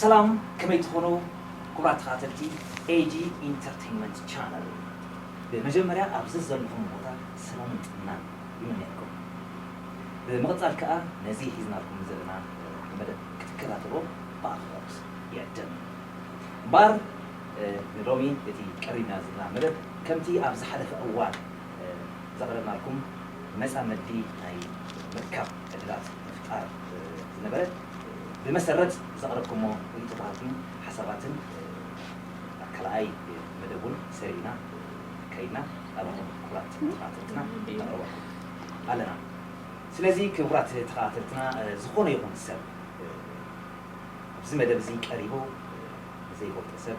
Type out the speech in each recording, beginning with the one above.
ሰላም ከመይ ትኾኑ ክቡራት ተኸታተልቲ ኤጂ ኢንተርቴንመንት ቻነል ብመጀመርያ ኣብዚ ዘለኹም ቦታ ሰላምን ጥዕናን ይምነየልኩም ብምቕፃል ከዓ ነዚ ሒዝናልኩም ዘለና መደብ ክትከታተሎ ብኣኽብሮት ይዕድም እምበኣር ንሎሚ እቲ ቀሪብና ዝልና መደብ ከምቲ ኣብ ዝሓለፈ እዋን ዘቕረብናልኩም መጻምዲ ናይ ምርካብ ዕድላት ምፍጣር ዝነበረ ብመሰረት ዘቕረብኩሞ ርእይቶታትን ሓሳባትን ኣብ ካልኣይ መደብ ውን ሰሪዕና ከይድና ናባኹም ክቡራት ተኸታተልትና ነቕርበኩም ኣለና። ስለዚ ክቡራት ተኸታተልትና ዝኾነ ይኹን ሰብ ኣብዚ መደብ እዚ ቀሪቡ ብዘይ ወልቀ ሰብ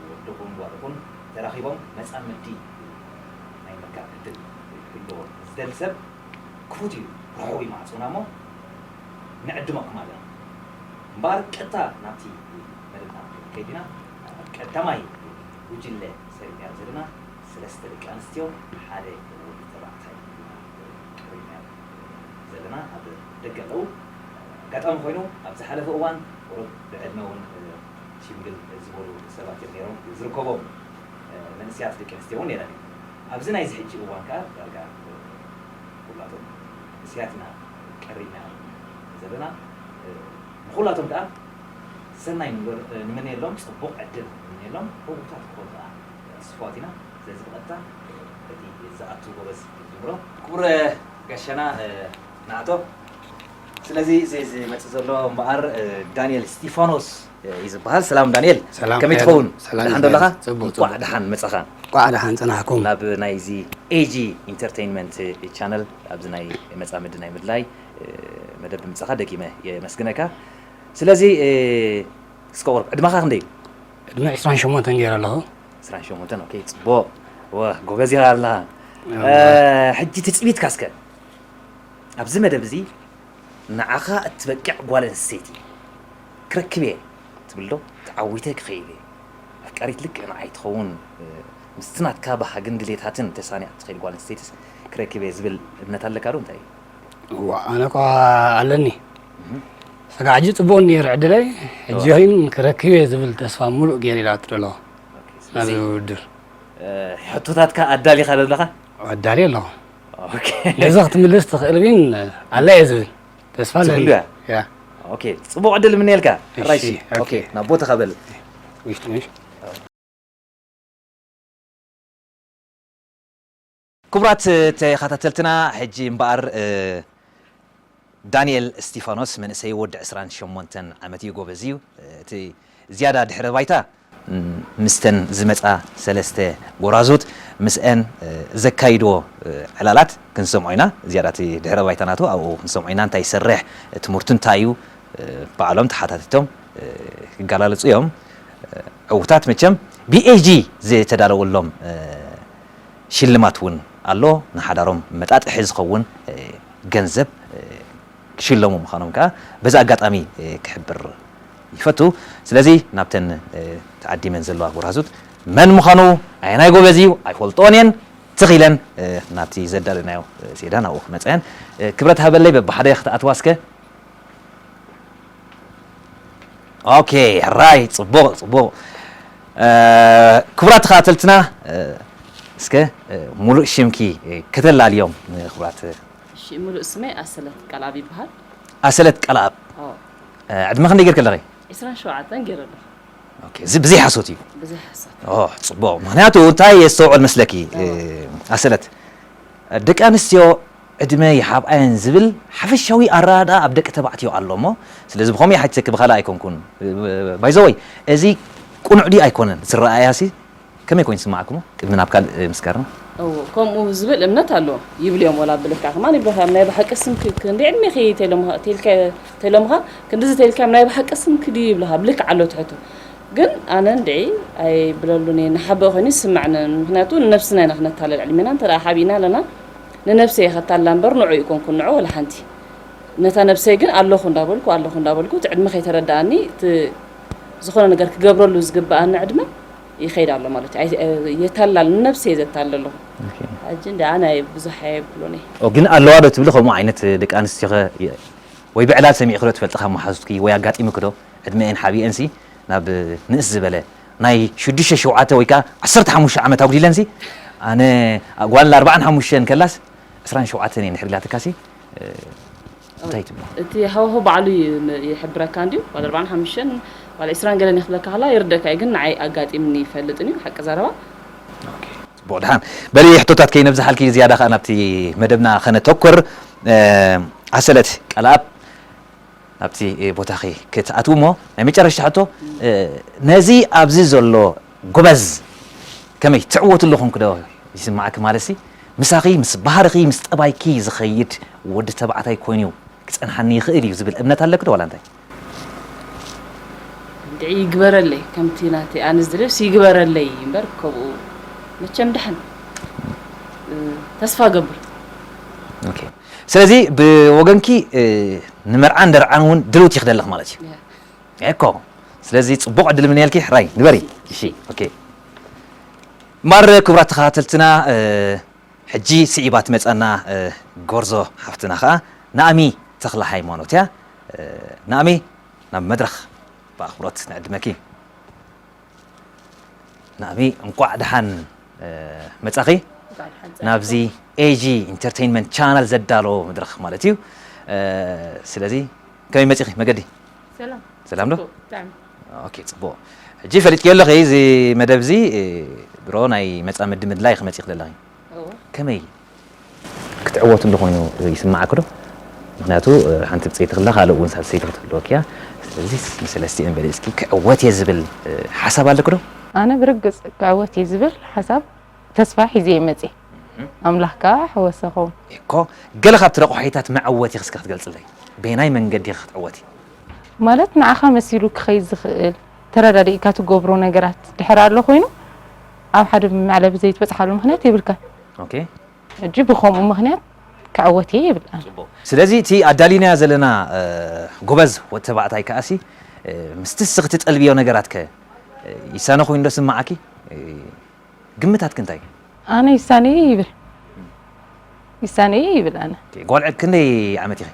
ወድኹም ጓልኹም ተራኺቦም መጻምዲ ናይ ምርካብ ዕድል ክህልዎ ዝደሊ ሰብ ክፉት እዩ ርሑዊ ማዕጾና እሞ ንዕድመኩም ኣለና እምበኣር ቀጥታ ናብቲ መደብና ክንከይድ ኢና ቀዳማይ ጉጅለ ሰሪዕናዮ ዘለና ሰለስተ ደቂ ኣንስትዮ ሓደ ወዲ ተባዕታይ ኢና ቀሪብናዮ ዘለና ኣብ ደገ ኣለዉ ኣጋጣሚ ኮይኑ ኣብ ዝሓለፈ እዋን ቁሩብ ብዕድመ እውን ሽምግል ዝበሉ ሰባት እዮም ነይሮም፣ ዝርከቦም መንእሰያት ደቂ ኣንስትዮ እውን ነይረን እየን። ኣብዚ ናይዚ ሕጂ እዋን ከኣ ዳርጋ ኩላቶም መንእሰያት ኢና ቀሪብና ዘለና። ንኹላቶም ከኣ ሰናይ ንምነየሎም፣ ጽቡቕ ዕድል ንምነየሎም፣ ዕዉታት ክኾኑ ከኣ ትስፉዋት ኢና። ስለዚ ብቐጥታ በቲ ዝኣቱ ጎበዝ ንጅምሮ። ክቡር ጋሻና ንኣቶ ስለዚ እዚ ዝመጽእ ዘሎ እምበኣር ዳንኤል እስጢፋኖስ እዩ ዝበሃል ሰላም ዳንኤል ሰላም ከመይ ሄሎ። ትኸውን ሰላም ደሓን ዶ ኣለኻ ይመስገን። ጽቡቕ፣ እንቋዕ ጽቡቕ። ደሓን መጻኻ እንቋዕ ደሓን ጽናሕኩም ናብ ናይዚ ኤጂ ኢንተርቴይንመንት ቻነል ኣብዚ ናይ መጻምዲ ናይ ምድላይ እ፣ መደብ ብምጻኻ ደጊመ የመስግነካ ስለዚ እ፣ እስከ ቁርብ ዕድመኻ ክንደይ እዩ ዕድመ 28 ገይረ ኣለኹ 28 ኦኬ ጽቡቕ ወ ጎበዝ ኢኻ ኣለኻ እ፣ ሕጂ ትጽቢትካ እስከ ኣብዚ መደብ እዚ ንዓኻ እትበቅዕ ጓል ኣንስተይቲ ክረክብ እየ ትብል ዶ? ተዓዊተ ክኸይድ እየ። ኣፍቃሪት ልክዕ ንዓይ ትኸውን ምስቲ ናትካ ባህግን ድሌታትን ተሳኒያ እትኸይድ ጓል ኣንስተይቲስ ክረክብ እየ ዝብል እምነት ኣለካ ዶ? እንታይ እዩ? እወ ኣነ እኳ ኣለኒ። ስጋዕ ሕጂ ጽቡቕ እንድየ ዕድለይ፣ ሕጂ ግን ክረክብ እየ ዝብል ተስፋ ምሉእ ገይረ ኢላ ትደሎ ናብዚ ውድድር። ሕቶታትካ ኣዳሊኻ ዶ ኣለኻ? ኣዳልየ ኣለኹ። ነዚ ክትምልስ ትኽእል ግን ኣላ እየ ዝብል ተስፋ ኣለኒ ፅቡቅ ዕድል ምንየልካ ናብ ቦታኻ በል ክቡራት ተኸታተልትና ሕጂ እምበኣር ዳኒኤል እስቲፋኖስ መንእሰይ ወዲ ዕስራን ሸሞንተን ዓመት እዩ ጎበዝ እዩ እቲ ዝያዳ ድሕረ ባይታ ምስተን ዝመጻ ሰለስተ ጎራዙት ምስኣን ዘካይዶ ዕላላት ክንሰምዖ ኢና ዝያዳ እቲ ድሕረ ባይታ ናቱ ኣብኡ ክንሰምዖ ኢና እንታይ ይሰርሕ ትምህርቱ እንታይ እዩ ባዕሎም ተሓታቲቶም ክጋላለጹ እዮም ዕውታት መቸም ብኤጂ ዝተዳለወሎም ሽልማት ውን ኣሎ፣ ንሓዳሮም መጣጥሒ ዝኸውን ገንዘብ ክሽለሙ ምዃኖም ከኣ በዚ ኣጋጣሚ ክሕብር ይፈቱ። ስለዚ ናብተን ተዓዲመን ዘለዋ ጎራዙት መን ምዃኑ ኣየናይ ጎበዝ ኢዩ ኣይፈልጥኦን ኢየን ትኽ ኢለን ናብቲ ዘዳለናዮ ሴዳ ናብኡ ክመጻ ኢየን። ክብረት ሃበለይ በብሓደ ክትኣትዋ እስከ። ኦኬ ራይ ጽቡቕ ጽቡቕ ክቡራት ተኸታተልትና እስከ ሙሉእ ሽምኪ ከተላልዮም ንክቡራት እሺ ሙሉእ ስመይ ኣሰለት ቃልኣብ ይበሃል ኣሰለት ቃልኣብ ዕድመ ክንደይ ጌርክ ኣለኺ 27 ጌረ ኣለኹ ኦኬ እዚ ብዘይ ሓሶት እዩ ብዘይ ሓሶት ጽቡቕ ምክንያቱ እንታይ የስተውዕል መስለኪ ኣሰለት ደቂ ኣንስትዮ ዕድመ ይሃብኣየን ዝብል ሓፈሻዊ ኣረዳድኣ ኣብ ደቂ ተባዕትዮ ኣሎ እሞ ስለዚ ብከምኡ ይሓትተኪ ብካልእ ኣይኮንኩን ባይ ዘ ወይ እዚ ቁኑዕ ድዩ ኣይኮነን እቲ ኣረኣእያሲ ከመይ ኮይኑ ዝስማዓኩሞ ቅድሚ ናብ ካልእ ምስጋርና። እው ከምኡ ዝብል እምነት ኣሎ ይብል እዮም ወላ ብልክዕ ከማን ይብልካ እዮም ናይ ብሓቂ ስምኪ ክንደይ ዕድሜኪ ተሎምካ ተሎምካ ክንድዚ ተልካ እዮም ናይ ብሓቂ ስምኪ ድዩ ይብልካ ብልክዕ ኣሎ ትሕቱ ግን ኣነ እንድዒ ኣይብለሉን እየ ንሓበእ ኮይኑ ይስመዕንን ምክንያቱ ንነብስና ኢና ክነታልል ዕድሜና እንተ ሓቢእና ኣለና ንነብሰይ እየ ከታልላ እምበር ንዕኡ ኣይኮንኩን ንዕኡ ወላ ሓንቲ ነታ ነብሰይ ግን ኣለኹ እንዳበልኩ ኣለኹ እንዳበልኩ እቲ ዕድመ ከይተረደኣኒ እቲ ዝኾነ ነገር ክገብረሉ ዝግበኣኒ ዕድመ ይኸይድ ኣሎ ማለት እዩ ኣይ- የታላል ንነብሰይ እየ ዘታልል ኣለኹ ኦኬ ሕጂ እንድኣ ናይ ብዙሕ ኣይብሎን እየ ኦ ግን ኣለዋ ዶ ትብሊ ከምኡ ዓይነት ደቂ ኣንስትዮ ከ የ- ወይ ብዕላል ሰሚዕኺ ዶ ትፈልጢ ካብ መሓዙትኪ ወይ ኣጋጢሙኪ ዶ ዕድመኤን ሓቢኤን ሲ ናብ ንእስ ዝበለ ናይ ሽዱሽተ ሸውዓተ ወይ ከኣ ዓሰርተ ሓሙሽተ ዓመት ኣጉዲለንሲ ኣነ ጓል ኣርብዓን ሓሙሽተን ከላስ ዕስራን ሸውዓተን እየ እንድሕር ኢላትካሲ እንታይ ትብሎ? እቲ ሃዋህው ባዕሉ እዩ ይሕብረካ እንድዩ ጓል ኣርብዓን ሓሙሽተን ጓል ዕስራን ገለን እየ ክብለካ ከለካ ይርደካ እዩ ግን ንዓይ ኣጋጢምኒ ኣይፈልጥን እዩ ሓቂ ዘረባ። ኦኬ ጽቡቕ ድሓን በሊ ሕቶታት ከይነብዝሓልኪ ዝያዳ ከኣ ናብቲ መደብና ከነተኩር ኣሰለት ቀልኣብ ናብቲ ቦታኺ ክትኣትዊ እሞ ናይ መጨረሽታ ሕቶ ነዚ ኣብዚ ዘሎ ጎበዝ ከመይ ትዕወትሉ ኮንክ ዶ ይስማዓኪ ማለትሲ ምሳኺ ምስ ባህርኺ ምስ ጠባይኪ ዝኸይድ ወዲ ተባዕታይ ኮይኑ ክጸንሓኒ ይኽእል እዩ ዝብል እምነት ኣለኪ ዶ ዋላ እንታይ። እንድዒ ይግበረለይ ከምቲ ናተይ ኣነ ዝደልዮስ ይግበረለይ እምበር ከምኡ መቸም ድሓን ተስፋ እገብር። ስለዚ ብወገንኪ ንመርዓን ደርዓን እውን ድልውቲ ኢኺ ዘለኺ ማለት እዩ እኮ ስለዚ ጽቡቕ ዕድል ምንየልኪ ሕራይ ንበሪ እሺ ኦኬ እምበኣር ክቡራት ተኸታተልትና ሕጂ ስዒባ ትመጻና ጎርዞ ሓፍትና ከኣ ናእሚ ተኽለሃይማኖት እያ ናእሚ ናብ መድረኽ ብኣኽብሮት ንዕድመኪ ናሚ እንቋዕ ደሓን መጻኺ ናብዚ ኤጂ ኢንተርቴይንመንት ቻናል ዘዳሎ መድረኽ ማለት እዩ ስለዚ ከመይ መጺኺ መገዲ ሰላም ዶ ኦኬ ጽቡቕ ሕጂ ፈሊጥክዮ ኣለኺ እዚ መደብ እዚ ድሮ ናይ መጻምዲ ምድላይ ክመጺኺ ዘለኺ ከመይ ክትዕወትሉ ኮይኑ ይስምዓክዶ? ምኽንያቱ ሓንቲ ብጸይቲ ክላ ካልእ ውን ሳልሰይቲ ክትህልወኪ እያ። ስለዚ ምስ ሰለስቲኤን በሊጽኪ ክዕወት እየ ዝብል ሓሳብ ኣለኪዶ? ኣነ ብርግጽ ክዕወት እየ ዝብል ሓሳብ ተስፋ ሒዘ እየ መጺኤ። ኣምላኽ ከኣ ኣሕወሰኹም። እኮ ገለ ካብቲ ረቋሒታት መዕወቲኺ እስከ ክትገልጽለይ? በየናይ መንገዲኺ ክትዕወቲ? ማለት ንዓኻ መሲሉ ክኸይድ ዝኽእል ተረዳዲእካ ትገብሮ ነገራት ድሕር ኣሎ ኮይኑ ኣብ ሓደ መዕለቢ ዘይትበጽሓሉ ምክንያት የብልካን ኦኬ ሕጂ ብከምኡ ምክንያት ክዕወት እየ ይብል ስለዚ እቲ ኣዳሊናያ ዘለና ጎበዝ ወዲ ተባዕታይ ከኣሲ ምስቲ እስኺ ትጠልብዮ ነገራት ከ ይሳነ ኮይኑ ዶ ስምዓኪ ግምታትኪ እንታይ ኣነ ይሳነ ይብል ይሳነ ይብል ኣነ ጓልዐ ክንደይ ዓመት ኢኺ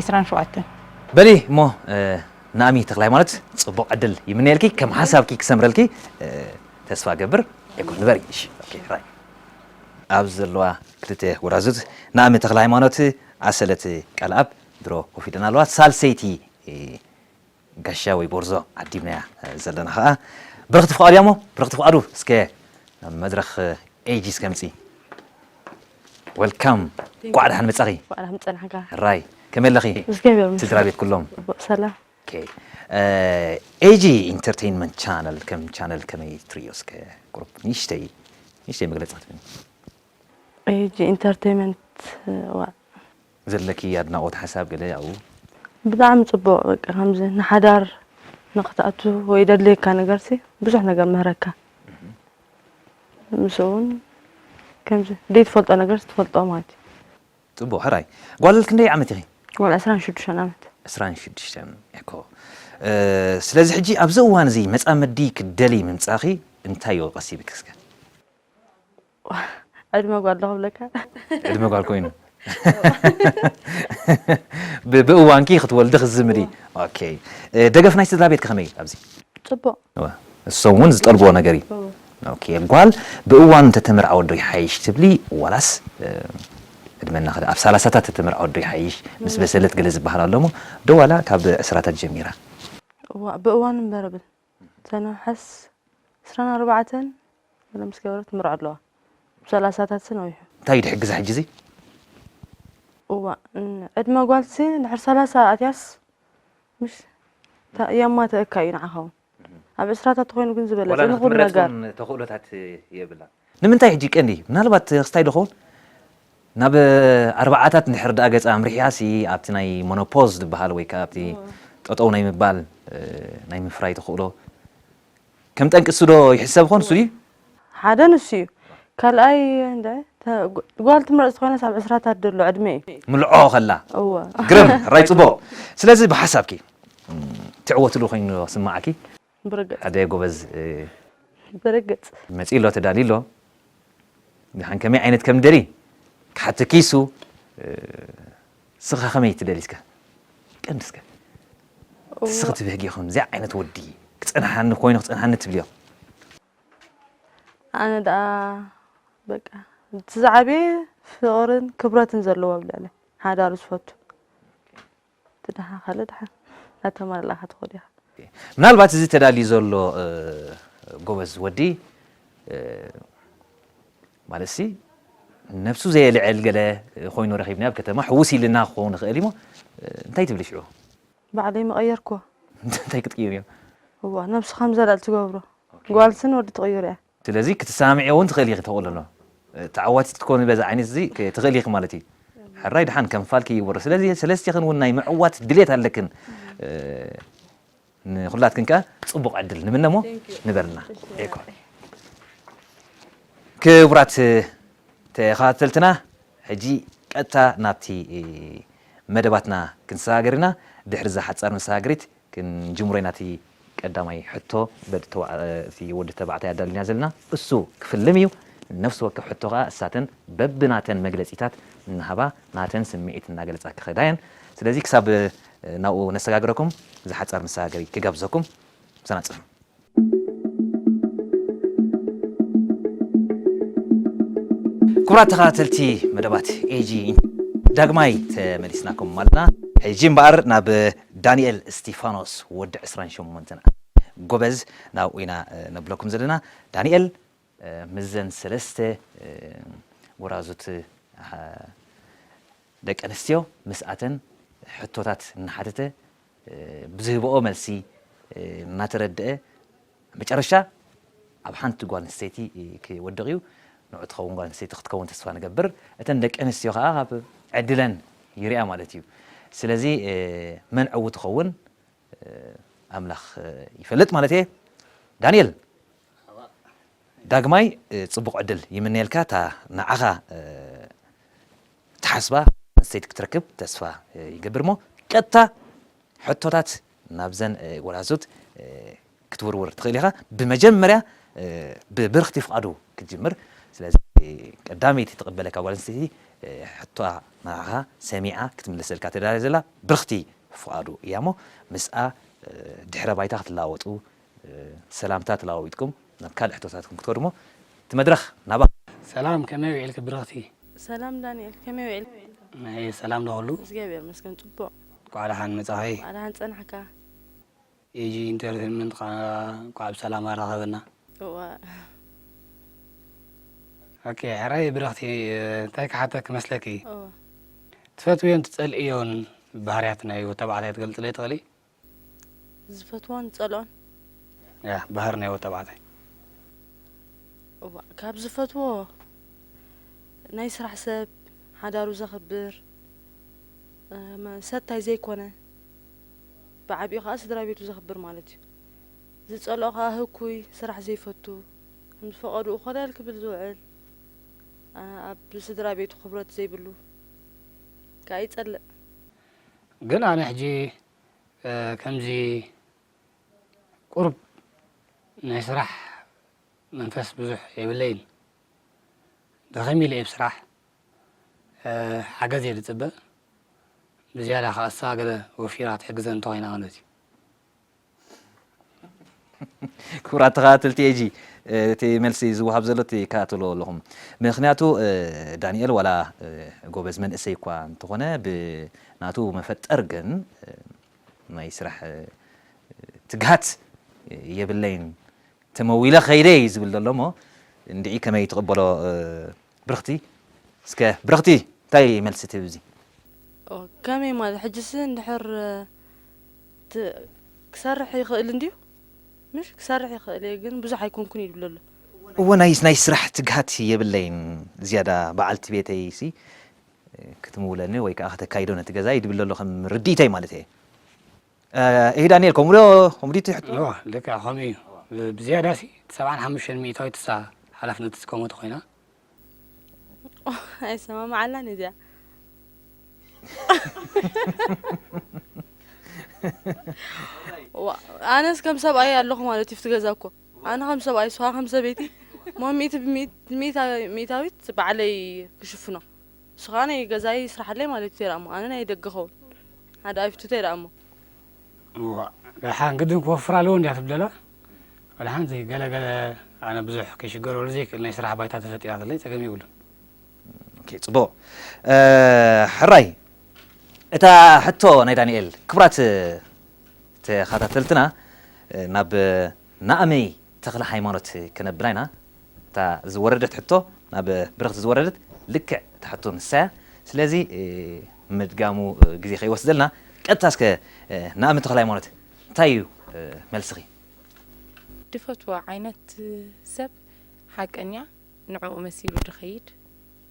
27 በሊ እሞ ናሚ ተክላይ ማለት ጽቡቅ ዕድል ይምነየልኪ ከም ሓሳብኪ ክሰምረልኪ ተስፋ ገብር ዕጉብ ንበሪ እሺ ኦኬ ራይ ኣብዚ ዘለዋ ክልተ ጎራዙት ናሚ ተክለ ሃይማኖት ኣሰለት ቃልኣብ ድሮ ኮፍ ኢለን ኣለዋ ሳልሰይቲ ጋሻ ወይ ጎርዞ ዓዲምናያ ዘለና ከዓ ብረክቲ ፍቃዱ እያ እሞ ብረክቲ ፍቃዱ እስከ መድረክ ኤጂ እስከ ምፂ ወልካም እንኳዕ ደሓን መፃኺ እንኳዕ ደሓን ፀናሕካ ራይ ከመይ ኣለኺ እግዚኣብሔር ይመስገን ስድራ ቤት ኩሎም ፅቡቅ ሰላም ኦኬ ኤጂ ኢንተርቴይንመንት ቻነል ከም ቻነል ከመይ ትርእዮ እስከ ቁሩብ ንእሽተይ ንእሽተይ መግለፂ ክትብኒ ኤጂ ኢንተርቴይመንት ዋ ዘለኪ ኣድናቆት ሓሳብ ገለ ኣብኡ ብጣዕሚ ፅቡቅ በቃ ከምዚ ንሓዳር ንክትኣቱ ወይ ደድልየካ ነገርሲ ብዙሕ ነገር ምህረካ ምስኡውን ከምዚ ዘይትፈልጦ ነገርስ ትፈልጦ ማለት እዩ። ጽቡቕ ሕራይ ጓል ክንደይ ዓመት ኢኺ? ጓል ዕስራን ሽዱሽተን ዓመት። ዕስራን ሽዱሽተን እኮ ስለዚ ሕጂ ኣብዚ እዋን እዚ መጻምዲ ክትደልዪ ምምጻኺ እንታይ እዩ ቀሲብኪ እስከ? ዕድመ ጓል ዶ ክብለካ? ዕድመ ጓል ኮይኑ ብ ብእዋንኪ ክትወልዲ ክትዝምዲ እወ ኦኬ እ ደገፍ ናይ ስድራቤትኪ ከመይ እዩ ኣብዚ? ጽቡቕ እወ እሶም እውን ዝጠልብዎ ነገር እዩ። እወ ኦኬ ጓል ብእዋኑ እንተተመርዓወት ዶ ይሓይሽ ትብሊ ዋላስ እ ዕድመ እናኸደ ኣብ ሰላሳታት ተተመርዓወት ዶ ይሓይሽ ምስ በሰለት ገለ ዝበሃል ኣሎ እሞ ዶ ዋላ ካብ ዕስራታት ጀሚራ? እዋእ ብእዋኑ እምበር እብል። ተነሓስ ዕስራን ኣርባዕተን ገለ ምስ ገበረት ትምርዖ ኣለዋ ብ ሰላሳታት ስን ኣውሑ። እንታይ እዩ ድሕግዛ ሕጂ እዚ? እዋእ ን ዕድመ ጓልሲ ድሕሪ ሰላሳ ኣትያስ ምሽ ታ የማትኣካ እዩ ንዓኻ ውን ኣብ ዕስራታት ተኾይኑ ግን ዝበለጸ ዋላ ንኹሉ ነገር። ንኽትምረጽ ውን ተኽእሎታት የብላን። ንምንታይ ሕጂ ቀንዲ ምናልባት ክስታይ ዶ ኸውን ናብ ኣርብዓታት እንድሕር ድኣ ገጻ ኣምሪሒሃሲ ኣብቲ ናይ ሞኖፖዝ ድብሃል ወይ ከኣ ኣብቲ ጠጠው ናይ ምባል ናይ ምፍራይ ተኽእሎ ከም ጠንቂ እሱ ዶ ይሕሰብ ኾን እሱ ድዩ ሓደ ንሱ እዩ ካልኣይ እንደ ጓል ትምረጽ ዝኾነስ ኣብ ዕስራታት ደሎ ዕድመ እዩ ምልዖ ከላ እወ ግርም ሕራይ ጽቡቕ ስለዚ ብሓሳብኪ ትዕወትሉ ኮይኑ ስምዓኪ ብርግጽ። ሓደ ጎበዝ ብርግጽ። መጺኡ ኣሎ ተዳልዩ ኣሎ ድሓን ከመይ ዓይነት ከም ደሊ ክሓቶ ኪሱ ስኻ ከመይ ትደሊ እስከ ቀንዲ እስከ ትስኺ ትብህጊ ከምዚ ዓይነት ወዲ ክጸንሓኒ ኮይኑ ክጸንሓኒ ትብልዮ ኣነ ደኣ በቃ እቲ ዝዓበየ ፍቕርን ክብረትን ዘለዎ ኣብ ልዕለ ሓዳሩ ዝፈቱ ትደሓ ካልእ ደሓ ናተማልእላ ክትኾድ ኢኻ። ምናልባት እዚ ተዳልዩ ዘሎ ጎበዝ ወዲ ማለትሲ ነብሱ ዘየልዕል ገለ ኮይኑ ረኺብናዮ ኣብ ከተማ ሕውስ ኢልና ክኸውን ይኽእል እዩሞ እንታይ ትብሊ ሽዑ? ባዕለይ ምቐየርክዎ። እንታይ ክትቅይር እዮ? እዋ ነብስኻ ምዘላል ትገብሮ ጓልስን ወዲ ትቕይር እያ። ስለዚ ክትሰማምዕዮ ውን ትኽእሊ ኢኺ ተቕልሎ ተዓዋቲት ክትኮኒ በዚ ዓይነት እዚ ትኽእሊ ኢኺ ማለት እዩ ሕራይ ድሓን ከም ፋልኪ ይወርድ ስለዚ ሰለስቲኽን ውን ናይ ምዕዋት ድሌት ኣለክን ንኹላትክን ከኣ ጽቡቕ ዕድል ንምነ እሞ ንበርልና ዒኮር ክቡራት ተኸታተልትና ሕጂ ቀጥታ ናብቲ መደባትና ክንሰጋገር ኢና ድሕሪ እዛ ሓጻር መሰጋገሪት ክንጅምሮ ኢና እቲ ቀዳማይ ሕቶ በቲ ወዲ ተባዕታይ ኣዳሊና ዘለና እሱ ክፍልም እዩ ነፍሲ ወከፍ ሕቶ ከኣ እሳተን በቢ ናተን መግለጺታት እናሃባ ናተን ስሚዒት እናገለጻ ክኸዳ እየን ስለዚ ክሳብ ናብኡ ነሰጋግረኩም ዝሓጻር መሰጋገሪ ክጋብዘኩም ምሳና ጽንሑ። ክቡራት ተኸታተልቲ መደባት ኤጂ ዳግማይ ተመሊስናኩም ኣለና። ሕጂ እምበኣር ናብ ዳንኤል እስጢፋኖስ ወዲ 28 ዓመት ጎበዝ ናብኡ ኢና ነብለኩም ዘለና። ዳንኤል ምስዘን ሰለስተ ጎራዙት ደቂ ኣንስትዮ ምስኣተን ሕቶታት እናሓተተ ብዝህበኦ መልሲ እናተረደኣ መጨረሻ ኣብ ሓንቲ ጓል ኣንስተይቲ ክወድቕ እዩ። ንዑ ትኸውን ጓል ኣንስተይቲ ክትከውን ተስፋ ንገብር። እተን ደቂ ኣንስትዮ ከኣ ካብ ዕድለን ይርኣ ማለት እዩ። ስለዚ መን ዕውት ይኸውን ኣምላኽ ይፈልጥ ማለት እየ። ዳንኤል ዳግማይ ጽቡቕ ዕድል ይምነየልካ። እታ ንዓኻ ትሓስባ ኣንስተይቲ ክትረክብ ተስፋ ይገብር እሞ ቀጥታ ሕቶታት ናብዘን ጎላዙት ክትውርውር ትኽእል ኢኻ ብመጀመርያ ብብርኽቲ ፍቓዱ ክትጅምር ስለዚ ቀዳመይቲ ትቕበለካ ጓል ኣንስተይቲ ሕቶኣ ንዓኻ ሰሚዓ ክትምልሰልካ ተዳልያ ዘላ ብርኽቲ ፍቓዱ እያ እሞ ምስኣ ድሕረ ባይታ ክትለዋወጡ ሰላምታ ተለዋዊጥኩም ናብ ካልእ ሕቶታትኩም ክትከዱ እሞ እቲ መድረኽ ናባኹም። ሰላም ከመይ ዊዒልኪ ብርኽቲ። ሰላም ዳኒኤል ከመይ ዊዒልካ። እየ ሰላም ዶ ኩሉ። እግዚኣብሔር ይመስገን ጽቡቅ። እንኳዕ ደሓን መጻኺ። እንኳዕ ደሓን ጸናሕካ። ኤጂ ኢንተርቴንመንት ከኣ እንኳዕ ብሰላም ኣራኸበና። እዋእ። ኦኬ ሕራይ ብርኽቲ እንታይ ክሓተኪ መስለኪ እወ። ትፈትውዮን ትጸልእዮን ባህርያት ናይ ወድ ተባዕታይ ክትገልጽለይ ትኽእሊ? ዝፈትዎን ዝጸልኦን ያህ ባህር ናይ ወተባዕታይ እዋ ካብ ዝፈትዎ ናይ ስራሕ ሰብ ሓዳሩ ዘኽብር ሰታይ ዘይኮነ ብዓቢኡ ከዓ ስድራ ቤቱ ዘኽብር ማለት እዩ ዝጸልኦ ከዓ ህኩይ ስራሕ ዘይፈቱ ከም ዝፈቐድኡ ኮለል ክብል ዝውዕል ኣብ ስድራ ቤቱ ክብረት ዘይብሉ ከዓ ይጸልእ ግን ኣነ ሕጂ ከምዚ ቁሩብ ናይ ስራሕ መንፈስ ብዙሕ የብለይን ደኸም ኢለ እየ ብስራሕ ሓገዝ እየ ዝፅበ ብዝያዳ ከኣሳ ገለ ወፊራ ትሕግዘ እንተኾይና ማለት እዩ። ክቡራት ተኸታተልቲ ኤጂ እቲ መልሲ ዝወሃብ ዘሎ ትከታተልዎ ኣለኹም ምክንያቱ ዳንኤል ዋላ ጎበዝ መንእሰይ እኳ እንተኾነ ብናቱ መፈጠር ግን ናይ ስራሕ ትግሃት የብለይን ተመዊለ ከይደ እዩ ዝብል ዘሎ እሞ እንድዒ ከመይ ትቕበሎ ብርኽቲ እስከ ብርኽቲ እንታይ መልሲ ትህቢ እዚ? ከመይ ማለት ሕጂስ እንድሕር ት ክሰርሕ ይኽእል እንድዩ ምሽ ክሰርሕ ይኽእል እየ ግን ብዙሕ ኣይኮንኩን እዩ ዝብለሉ። እወ ናይ ናይ ስራሕ ትግሃት የብለይን ዝያዳ በዓልቲ ቤተይ ሲ ክትምውለኒ ወይ ከኣ ከተካይዶ ነቲ ገዛይ ድብለሉ ከም ርድኢተይ ማለት እየ። እሂ ዳኒኤል ከምኡ ዶ ከምኡ ድዩ እቲ ሕቶ? እወ ልክዕ ከምኡ እዩ ብዝያዳ ሲ ሰብዓን ሓሙሽተን ሚኢታዊት እሳ ሓላፍነት ዝትከሞ ተኮይና። ኣይሰማማዓላን እዩ እዚኣ። ዋእ ኣነስ ከም ሰብኣይ ኣለኹ ማለት እዩ ኣብቲ ገዛ እኮ ኣነ ከም ሰብኣይ እሷ ከም ሰበይቲ እሞ ሚእቲ ብሚእት- ሚእታ- ሚእታዊት ባዕለይ ክሽፍኖ ንስኻ ናይ ገዛይ ይስራሓለይ ማለት ኢዩ ተይራእሞ ኣነ ናይ ደገ ኸውን ሓደ ኣይፍቱ ተይራእሞ። እዋእ ደሓን ግድን ክወፍራ ኣለወን ድያ ትብደላ መድሓንቲ ገለ ገለ ኣነ ብዙሕ ክሽገረሉ ዘይክእል ናይ ስራሕ ባይታ ተፈጢራትለይ ጸገም የብሉን። ኦኬ ጽቡቕ ሕራይ እታ ሕቶ ናይ ዳኒኤል ክቡራት ተኻታተልትና ናብ ናኣመይ ተክለ ሃይማኖት ክነብላ ኢና እታ ዝወረደት ሕቶ ናብ ብርኽቲ ዝወረደት ልክዕ እታ ሕቶ ንሳያ ስለዚ ምድጋሙ ግዜ ከይወስደልና ቀጥታ እስከ ናኣመ ተክለ ሃይማኖት እንታይ እዩ መልስኺ? ድፈትዎ ዓይነት ሰብ ሓቀኛ ንዕኡ መሲሉ ድኸይድ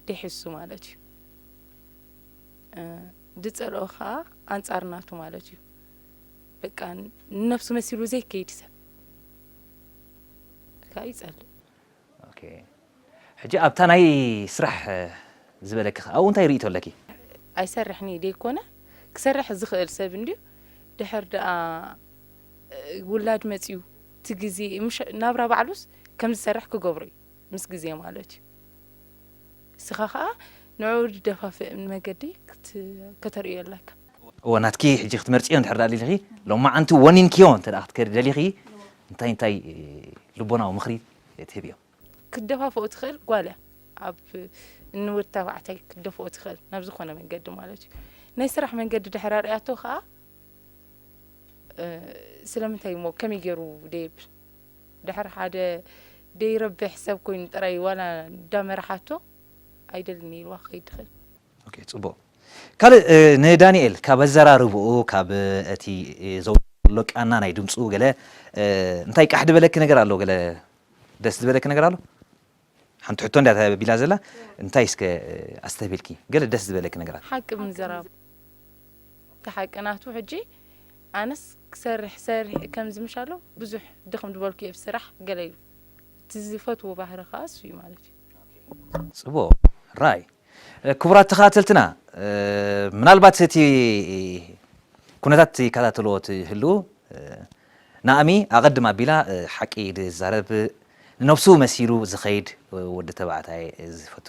ዴሕሱ ማለት እዩ ድጸልኦ ከኣ ኣንጻር ናቱ ማለት እዩ። በቃ ንነብሱ መሲሉ ዘይከይድ ሰብ ከኣ ይጸልእ። ኦኬ ሕጂ ኣብታ ናይ ስራሕ ዝበለኪ ከ ኣብኡ እንታይ ርእይቶ ኣለኪ? ኣይሰርሕን ኢየ ደይኮነ ክሰርሕ ዝኽእል ሰብ እንድዩ ድሕር ደኣ ውላድ መጽዩ እቲ ግዜ ምሽ ናብራ ባዕሉስ ከም ዝሰርሕ ክገብሮ ኢዩ ምስ ግዜ ማለት ኢዩ እስኻ ከኣ ንዕኡ ድደፋፍእ መገዲ ክት ከተርእዮ ኣለካ። እወ ናትኪ ሕጂ ክትመርጽዮ እንድሕር ደኣ ደሊኺ ሎማዓንቲ ወኒንክዮ እንተ ደኣ ክትከዲ ደሊኺ እንታይ እንታይ ልቦናዊ ምኽሪ ትህብዮ? ክትደፋፍኦ ትኽእል ጓል እያ ኣብ ንወድ ተባዕታይ ክትደፍኦ ትኽእል ናብ ዝኾነ መንገዲ ማለት እዩ ናይ ስራሕ መንገዲ ድሕር ኣርኣያቶ ከኣ ስለምንታይ እሞ ከመይ ገይሩ ደየብል ድሕር ሓደ ደይረብሕ ሰብ ኮይኑ ጥራይ ዋላ እንዳመርሓቶ ኣይደልን ኢልዋ ክኸይድ ይኽእል ኦኬ ጽቡቅ ካልእ ንዳኒኤል ካብ ኣዘራርብኡ ካብ እቲ ዘውጽሎ ቃና ናይ ድምጹ ገለ እንታይ ቃሕ ድበለኪ ነገር ኣሎ ገለ ደስ ዝበለኪ ነገር ኣሎ ሓንቲ ሕቶ እንዳ ተቢላ ዘላ እንታይ እስከ ኣስተብሂልኪ ገለ ደስ ዝበለኪ ነገራት ሓቂ ምዝራብ እቲ ሓቂ ናቱ ሕጂ ኣነስ ክሰርሕ ሰሪሕ ከምዚ ምሻሎ ብዙሕ ድኽም ድበልኩ እየ ብስራሕ ገለ ኢሉ እቲ ዝፈትዎ ባህሪ ከኣ እሱ እዩ ማለት እዩ ጽቡቅ ራይ ክቡራት ተኸታተልትና ምናልባት እቲ ኩነታት ይከታተልዎ ትህልዉ ናኣሚ ኣቐድም ኣቢላ ሓቂ ዝዛረብ ንነብሱ መሲሉ ዝኸይድ ወዲ ተባዕታይ ዝፈቱ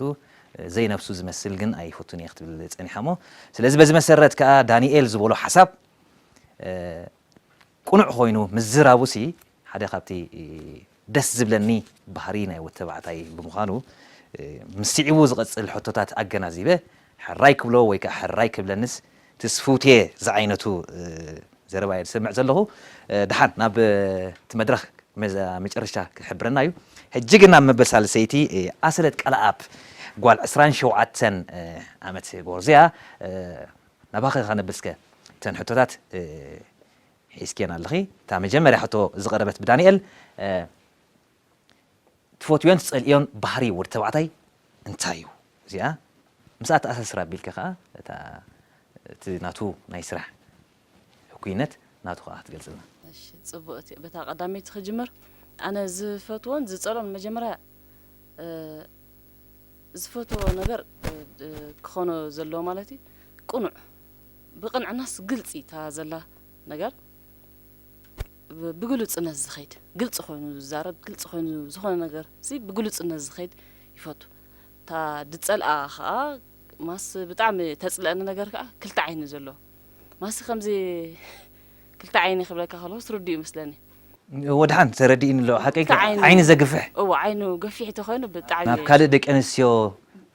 ዘይነብሱ ዝመስል ግን ኣይፈቱን እየ ክትብል ጸኒሓ እሞ ስለዚ በዚ መሰረት ከኣ ዳኒኤል ዝበሎ ሓሳብ ቁኑዕ ኮይኑ ምዝራቡ ሲ ሓደ ካብቲ ደስ ዝብለኒ ባህሪ ናይ ወድ ተባዕታይ ብምዃኑ ምስ ሲዒቡ ዝቐጽል ሕቶታት ኣገናዚበ ሕራይ ክብሎ ወይ ከኣ ሕራይ ክብለንስ ትስፍውቲየ ዝዓይነቱ ዘረባ እየ ዝሰምዕ ዘለኹ ደሓን ናብ እቲ መድረኽ መጨረሻ ክሕብረና እዩ ሕጂ ግን ናብ መበል ሳልሰይቲ ኣሰለት ቀለኣብ ጓል ዕስራን ሸውዓተን ዓመት ጎርዞያ ናባኺ ከነብል እስከ እተን ሕቶታት ሒዝክየን ኣለኺ። እታ መጀመርያ ሕቶ ዝቐረበት ብዳንኤል፣ ትፈትዎን ትጸልእዮን ባህሪ ወዲ ተባዕታይ እንታይ እዩ? እዚኣ ምስኣ ተኣሳስር ኣቢልካ ከኣ እታ እቲ ናቱ ናይ ስራሕ ህኩይነት ናቱ ከኣ ክትገልጽልና። እሺ ጽቡቅ እቲ በታ ቀዳመይቲ ክጅምር ኣነ ዝፈትዎን ዝጸልኦን መጀመርያ ዝፈትዎ ነገር ክኾኖ ዘለዎ ማለት እዩ ቅኑዕ ብቅንዕናስ ግልጺ እታ ዘላ ነገር ብግሉጽነት ዝኸይድ ግልጺ ኮይኑ ዝዛረብ ግልጺ ኮይኑ ዝኾነ ነገር ሲ ብግሉጽነት ዝኸይድ ይፈቱ እታ ድጸልኣ ከኣ ማስ ብጣዕሚ ተጽልኣኒ ነገር ከኣ ክልተ ዓይኒ ዘለዎ ማሲ ከምዚ ክልተ ዓይኒ ክብለካ ከለኩስ ርዱእ ይመስለኒ። ወድሓን ተረዲእኒ ኣሎ ሓቀይ ክልተ ዓይኑ ዓይኒ ዘግፍሕ እወ ዓይኑ ገፊሕ ተኮይኑ ብጣዕሚ ናብ ካልእ ደቂ ኣንስትዮ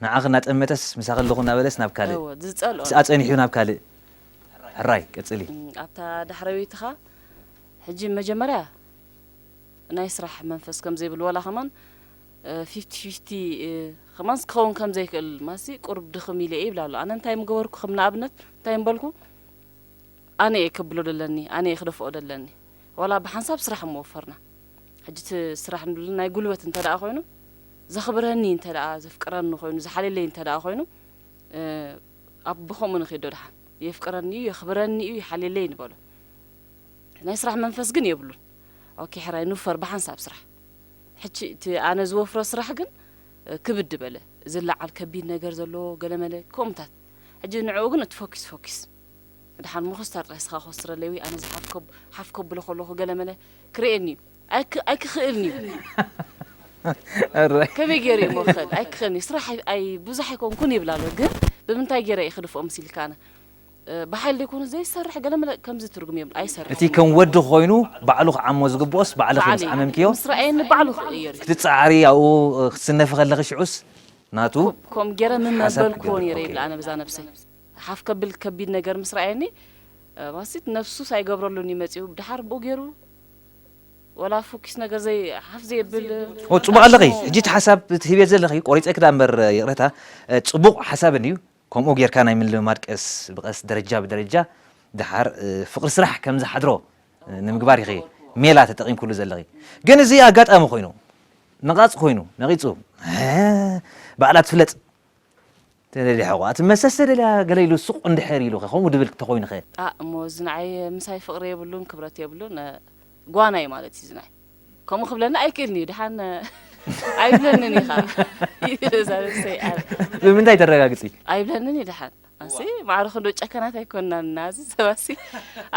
ንዓኺ እናጠመተስ ምሳኺ ኣለኹ እናበለስ ናብ ካልእ እወ ዝጸልኦ ምስኣ ጸኒሑ ናብ ካልእ ሕራይ ቀጽሊ። ኣብታ ዳሕረወይትኻ ሕጂ መጀመርያ ናይ ስራሕ መንፈስ ከምዘይብሉ ወላ ከማን ፊፍቲ ፊፍቲ ከማንስ ክኸውን ከም ዘይክእል ማሲ ቁሩብ ድኽም ኢለ እየ ይብል ኣሎ። ኣነ እንታይ ምገበርኩ ከም ንኣብነት እንታይ ምበልኩ ኣነ እየ ከብሎ ደለኒ ኣነ እየ ክደፍኦ ደለኒ ዋላ ብሓንሳብ ስራሕ እሞ ወፈርና ሕጂ እቲ ስራሕ ንብል ናይ ጉልበት እንተ ደኣ ኮይኑ ዘኽብረኒ እንተ ደኣ ዘፍቅረኒ ኮይኑ ዝሓልየለይ እንተ ደኣ ኮይኑ ኣብ ብከምኡ ንኺዶ ደሓን የፍቅረኒ እዩ የኽብረኒ እዩ ይሓልየለይ ንበሎ ናይ ስራሕ መንፈስ ግን የብሉን ኦኬ ሕራይ ንውፈር ብሓንሳብ ስራሕ ሕጂ እቲ ኣነ ዝወፍሮ ስራሕ ግን ክብድ በለ፣ ዝለዓል ከቢድ ነገር ዘለዎ ገለመለ ከምኡታት፣ ሕጂ ንዕኡ ግን እቲ ፈኪስ ፈኪስ ድሓን ምኹስታር ጥራይ ስኻ ኮስትረለይ ወይ ኣነ ዝሓፍ ከብ ሓፍ ከብሎ ከለኹ ገለመለ ክርእየኒ እዩ ኣይክ ኣይክኽእልን እዩ እረ ከመይ ገይረ እሞ ክኽእል ኣይክኽእልን እዩ ስራሕ ኣይ ኣይ ብዙሕ ኣይኮንኩን ይብል ኣሎ ግን ብምንታይ ገይረ እዩ ክድፍኦ ምስ ኢልካ ኣነ ብሓይሊ ዘይኮነ ዘይሰርሕ ገለመለ ከምዚ ትርጉም የብሉን ኣይሰርሕን እቲ ከም እዩ። ወዲ ኮይኑ ባዕሉ ክዓሞ ዝግብኦስ ባዕልኺ ምስ ባዕለይ ዓመምክዮ ምስ ረኣየኒ ባዕሉ ክቕየር እዩ። ክትጸዓሪ ኣብኡ ክትስነፊ ከለኺ ሽዑስ ናቱ ኮ ከምኡ ጌረ ሓሳብ ምመበልኩዎ ክገብር ኔረ ይብል ኦኬ። ኣነ በዛ ነብሰይ ሓፍ ከብል ከቢድ ነገር ምስ ረኣየኒ ማሲት ነብሱስ ኣይገብረሉን እዩ መጺኡ ደሓር ብኡ ጌሩ ወላ ፉኪስ ነገር ዘይ ሓፍ ዘየብል ኦ ጽቡቕ ኣለኺ ኣስሙ ሕጂ እቲ ሓሳብ ትህብዮ ዘለኺ ቆሪጸኪ ድኣ እምበር ይቕረታ ጽቡቕ ሓሳብ እንድዩ ከምኡ ጌርካ ናይ ምልምማድ ቀስ ብቐስ ደረጃ ብደረጃ ደሓር ፍቕሪ ስራሕ ከም ዝሓድሮ ንምግባር ኢኺ ሜላ ተጠቒምክሉ ዘለኺ። ግን እዚ ኣጋጣሚ ኮይኑ ነቓጽ ኮይኑ ነቒጹ ባዕላ ትፍለጥ ተደልያ ሕቖኣ ትመሰስ ተደልያ ገለ ኢሉ ሱቕ እንድሕር ኢሉኸ ከምኡ ድብል ተኾይኑኸ? ኣእ እሞ እዚ ንዓይ ምሳይ ፍቕሪ የብሉን ክብረት የብሉን ጓናይ ማለት እዩ እዚ ናይ። ከምኡ ክብለኒ ኣይክእልን እዩ ድሓን ኣይብለንን እዩ ከዓ ብምንታይ ተረጋግፂ ኣይብለንን እዩ ድሓን ኣንሲ ማዕረ ክንዶ ጨከናት ኣይኮናን እና እዚ ሰባሲ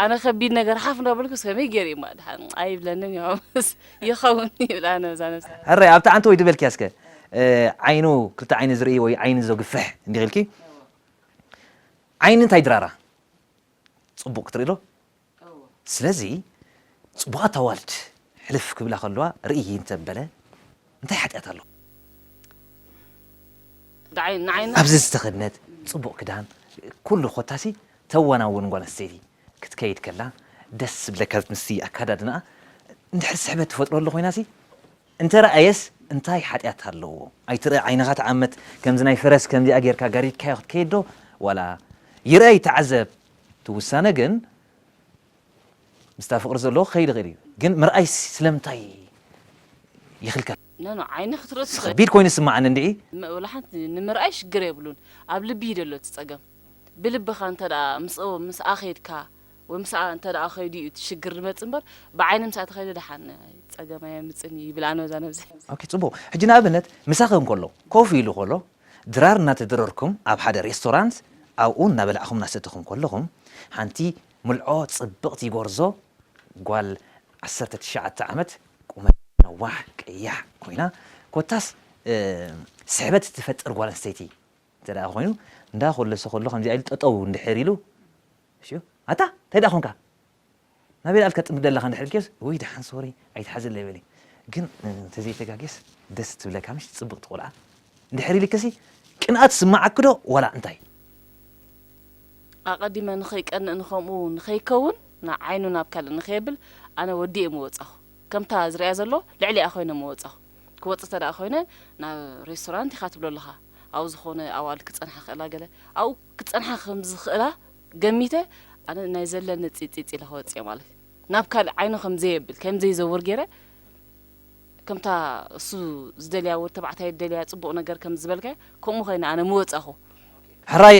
ኣነ ከቢድ ነገር ሓፍ እንዳበልኩ ከመይ ገይሩ እዩማ ድሓን ኣይብለንን እዩ ምስ ይኸውን ይብል ኣነ ዛ ነብሲ ሕራይ ኣብቲ ዓንተ ወይ ድበልኪያ እስከ ዓይኑ ክልተ ዓይኒ ዝርኢ ወይ ዓይኒ ዘግፍሕ እንዲኽ ኢልኪ ዓይኒ እንታይ ድራራ ፅቡቕ ክትርኢ ዶ ስለዚ ጽቡቓት ኣዋልድ ሕልፍ ክብላ ከለዋ ርእዪ እንተ በለ እንታይ ሓጢኣት ኣሎ? ኣብዚ ዝተኸድነት ጽቡቕ ክዳን ኩሉ ኮታሲ ተዋናውን ጓል ኣንስተይቲ ክትከይድ ከላ ደስ ዝብለካ ዝትንስቲ ኣከዳድናኣ እንድሕር ስሕበት ትፈጥረሉ ኮይናሲ እንተ ረኣየስ እንታይ ሓጢኣት ኣለዎ? ኣይትርኣ ዓይንኻ ትዓመት ከምዚ ናይ ፈረስ ከምዚኣ ጌርካ ጋሪድካዮ ክትከይድ ዶ ዋላ ይርኣይ ተዓዘብ እቲ ውሳነ ግን ምስታ ፍቅሪ ዘለዎ ክከይድ ይክእል እዩ ግን ምርኣይ ስለምንታይ ይክልከል? ኖኖ ዓይኒ ክትርኢ ትኽእል። ከቢድ ኮይኑ ይስማዓኒ እንድዒ። ብልሓት ንምርኣይ ሽግር የብሉን ኣብ ልቢ እዩ ደሎ እቲ ጸገም ብልብኻ እንተ ምስ ምስኣ ከይድካ ወይ ምስኣ እንተ ከይዱ እዩ እቲ ሽግር ድመጽእ እምበር ብዓይኒ ምስኣ ተኸይደ ድሓን ጸገም ኣየምጽን እዩ ይብል ኣነ በዛ ነብሰይ። ኦኬ ጽቡቅ ሕጂ ንኣብነት ምሳኺ እንከሎ ኮፍ ኢሉ ከሎ ድራር እናተደረርኩም ኣብ ሓደ ሬስቶራንት ኣብኡ እናበላዕኹም እናሰተኹም ከለኹም ሓንቲ ምልዖ ጽብቕቲ ጎርዞ ጓል ዓሰርተ ትሽዓተ ዓመት ቁመታ ነዋሕ ቀያሕ ኮይና ኮታስ ስሕበት እትፈጥር ጓል ኣንስተይቲ እንተ ኮይኑ እንዳ ኮለሰ ከሎ ከምዚኣ ኢሉ ጠጠው እንድሕር ኢሉ ኣታ እንታይ ደኣ ኮንካ ናበይ ደኣ ኢልካ ትጥምት ደለኻ እንድሕር ኢልክዮስ ውይ ደሓን ሶሪ ኣይትሓዘለይ በሊ ግን እንተዘይተጋግየስ ደስ ትብለካ ምሽ ጽብቕቲ ቆልዓ እንድሕር ኢልክሲ ቅንኣት ይስመዓኪ ዶ ዋላ እንታይ። ኣቐዲመ ንኸይቀንእ ንኸምኡ ንኸይከውን ን ዓይኑ ናብ ካልእ ንኸየብል ኣነ ወዲኤ ምወጻኹ ከምታ ዝርእያ ዘሎ ልዕሊኣ ኮይነ ምወጻኹ ክወጽእ እንተደኣ ኮይነ ናብ ሬስቶራንት ኢኻ ትብሎ ኣለኻ ኣብኡ ዝኾነ ኣዋልድ ክጸንሓ ክኽእላ ገለ ኣብኡ ክጸንሓ ከም ዝኽእላ ገሚተ ኣነ ናይ ዘለኒ ጺጺጽ ኢለ ክወጽእ እየ ማለት ናብ ካልእ ዓይኑ ከም ዘየብል ከም ዘይዘውር ገይረ ከምታ እሱ ዝደልያ ወድ ተባዕታይ ዝደልያ ጽቡቕ ነገር ከም ዝበልካዮ ከምኡ ኮይነ ኣነ ምወጻኹ። ሕራይ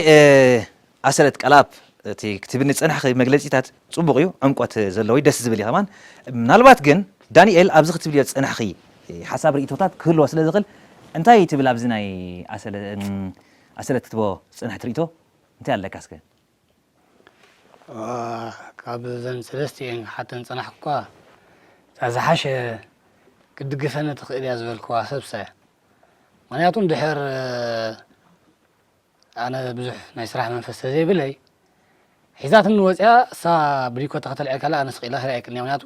ኣሰለት ቀላብ እቲ ክትብኒ ዝጸናሕኺ መግለጺታት ጽቡቕ እዩ ዕምቆት ዘለዎዩ ደስ ዝብል እዩ ከማን ምናልባት ግን ዳኒኤል ኣብዚ ክትብልዮ ዝጸናሕኺ ሓሳብ ሪኢቶታት ክህልዎ ስለ ዝኽእል እንታይ ትብል ኣብዚ ናይ ኣሰለ ኣሰለ ትትቦ ዝጸንሐት ርእይቶ እንታይ ኣለካ እስከ? ዋእ ካብ ዘን ሰለስቲኤን ክሓተን ዝጸናሕኩካ እታ ዝሓሸ ክትድግፈኒ ትኽእል እያ ዝበልክዋ ሰብሳ እያ። ምኽንያቱ እንድሕር ኣነ ብዙሕ ናይ ስራሕ መንፈስ ተዘይብለይ ሒዛትኒ ወጺኣ እሳ ብሊኮታ ከተልዕል ከላ ኣነ ስቕ ኢላ ተላዒልክኒ ምኽንያቱ